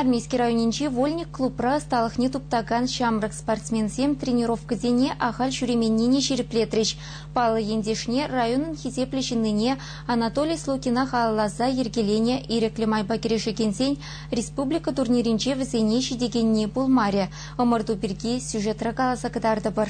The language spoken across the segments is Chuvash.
Армейски районӗнчи Вольник клубра ӑсталӑхне туптакан ҫамрӑк спортсменсем тренировкӑсене ахаль ҫӳременнине ҫирӗплетрӗҫ. Паллӑ ентешне, районӑн хисеплӗ ҫыннине Анатолий Слокина халалласа йӗркеленӗ ирӗклӗ майпа кӗрешекенсен республика турнирӗнче вӗсене ҫитекенни пулмарӗ. Ӑмӑрту пирки сюжетра каласа кӑтартӑпӑр.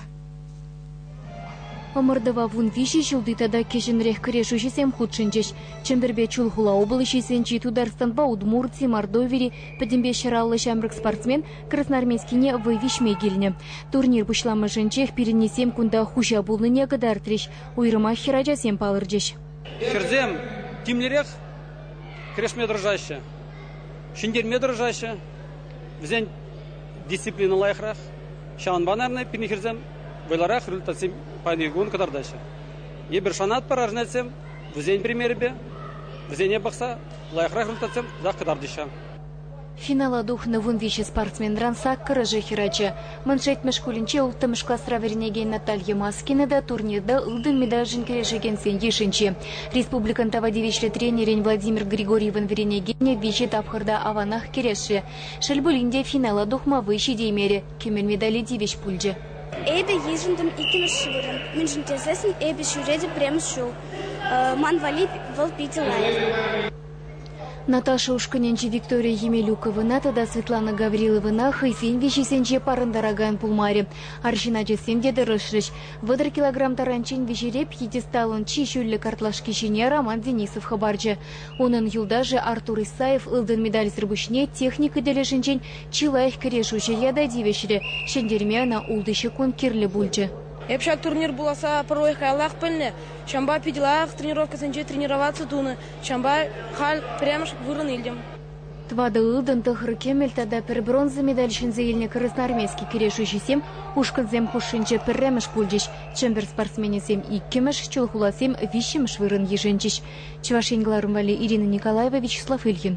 Ӑмӑртӑва вун виҫӗ ҫулти тата кӗҫӗнрех кӗрешӳҫӗсем хутшӑнчӗҫ. Чӗмпӗрпе Чулхула облаҫӗсенчи Тутарстанпа Удмурти, Мордовири, пӗтӗмпе ҫӗраллӑ ҫамрӑк спортсмен Красноармейскине вӑй виҫме килнӗ. Турнир пуҫламӑшӗнчех пирӗннисем кунта хуҫа пулнине кӑтартрӗҫ, уйрӑмах хӗрачасем палӑрчӗҫ. Хӗрсем тимлӗрех кӗрешме тӑрӑшаҫҫӗ, ҫӗнтерме тӑрӑшаҫҫӗ. Вӗсен Дисциплина лайӑхрах. Ҫавӑнпа, наверное, пирӗн хӗрсем вӑйлӑрах результатсем паян кун кӑтартаҫҫӗ. Эпир шанатпӑр аржнецсем вӗсен примерӗпе вӗсене пӑхса лайӑхрах результатсем тах кӑтартӗҫ. Финала тухнӑ вун виҫӗ спортсменран саккӑрӑшӗ хӗрача. Мӑн Шетмӗ шкулӗнче улттӑмӗш класра вӗренекен Наталья Маскина та турнирта ылтӑн медальшӗн кӗрешекенсен йышӗнче. Республикӑн тава тивӗҫлӗ тренерӗн Владимир Григорьевӑн вӗренекенӗ виҫӗ тапхӑрта аванах кӗрешрӗ. Шел пулин те, финала тухма вӑй ҫитеймерӗ, кӗмен медале тивӗҫ пулчӗ. Эпӗ йышӑнтӑм иккӗмӗш вырӑн, мӗншӗн тесессӗн эпӗ ҫӳретӗп пӗрремӗш ҫул. Ман валли вӑл питӗ лайӑх. Наташа ушкӑнӗнчи Виктория Емелюковӑна тата Светлана Гавриловӑна хӑйсен виҫисенче парӑнтаракан пулмарӗ. Арҫын ачасем те тӑрӑшрӗҫ. Вӑтӑр килограмм таранччен виҫереп пьедесталӑн чи ҫӳллӗ картлашки ҫине Роман Денисов хӑпарчӗ. Унӑн юлташӗ Артур Исаев ылтӑн медальсӗр пуҫне техника тӗлӗшӗнчен чи лайӑх кӗрешӳҫӗ ята тивӗҫрӗ. Ҫӗнтерме ӑна ултӑ ҫеккунт кирлӗ пулчӗ. Эп ҫак турнир пуласса пӗррехи каяллах пӗлнӗ. Ҫавӑнпа питӗ лайӑх тренировкӑсенче тренироваци тунӑ. Ҫавӑнпа халь пӗрремӗш вырӑн илтӗм. Тӑватӑ ылтӑн, тӑхӑр кӗмӗл тата пӗр бронза медаль ҫӗнсе илнӗ красноармейски кӗрешӳҫӗсем ушкӑнсем хушшинче пӗрремӗш пулчӗҫ. Чӗмпӗр спортсменӗсем иккӗмӗш, Чулхуласем виҫҫӗмӗш вырӑн йышӑнчӗҫ. Чӑваш Ен кӑларӑм валли Ирина Николаева, Вячеслав Ильин.